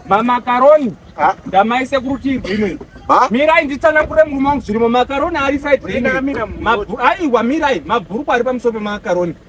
mamakaroni ndamaise kurutivi rwimwe mirai nditsanangure murume wangu zvirimo makaroni ari saidaiwa mirai mabhurukwa ari pamusoro pemakaroni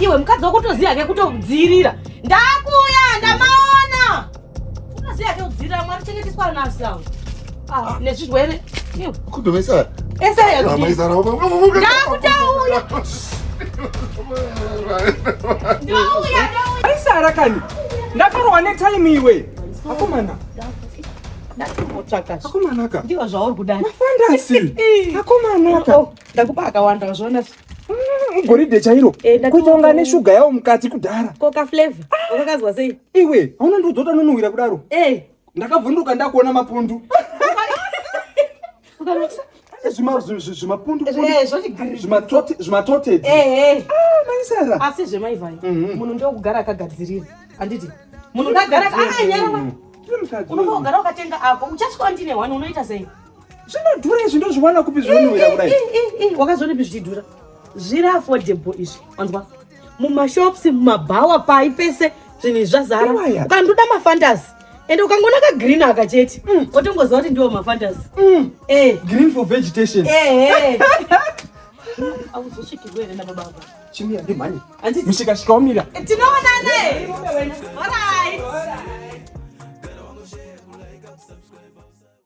iwe mukadzi wakutoziva ke kutodziirira ndakuya ndamaona unoziva ke kudziirira mwari chengeteswa ana asi awo ah, nezvirwere kudomesara esayadakutauya aisara kani ndakarwa netime iwe akomana akomanaka ndiwo zvauri kudai akomanaka oh, ndakupa akawanda wazviona Mm, goridhe chairo eh, kutonga neshuga yawo mukati kudhara koka flavor wakazwa sei iwe hauna ndiudzota nonuhwira kudaro eh. ndakavhunduka ndakuona mapundu zvimatoted asi zvemaivai mhm. munhu ndokugara akagadzirira handiti munhu ndagara akanyara unombogara ukatenga ako uchasvika ndine wani unoita sei zvinodhura izvi ndozviwana kupi zvinonhuwira eh, kudai eh, eh, wakazoona ipi zvichidhura zviri affordable izvi wanzwa mumashops mumabhawa pai pese zvinhu izvi zvazara ukandoda mafantasi ende ukangona kagreen aka chete mm. otongoziva kuti ndiwo mafantasi mm. green for vegetation auzochikirwe here nababa ava chimira ndimhani mishikashika wamira tinoonane orit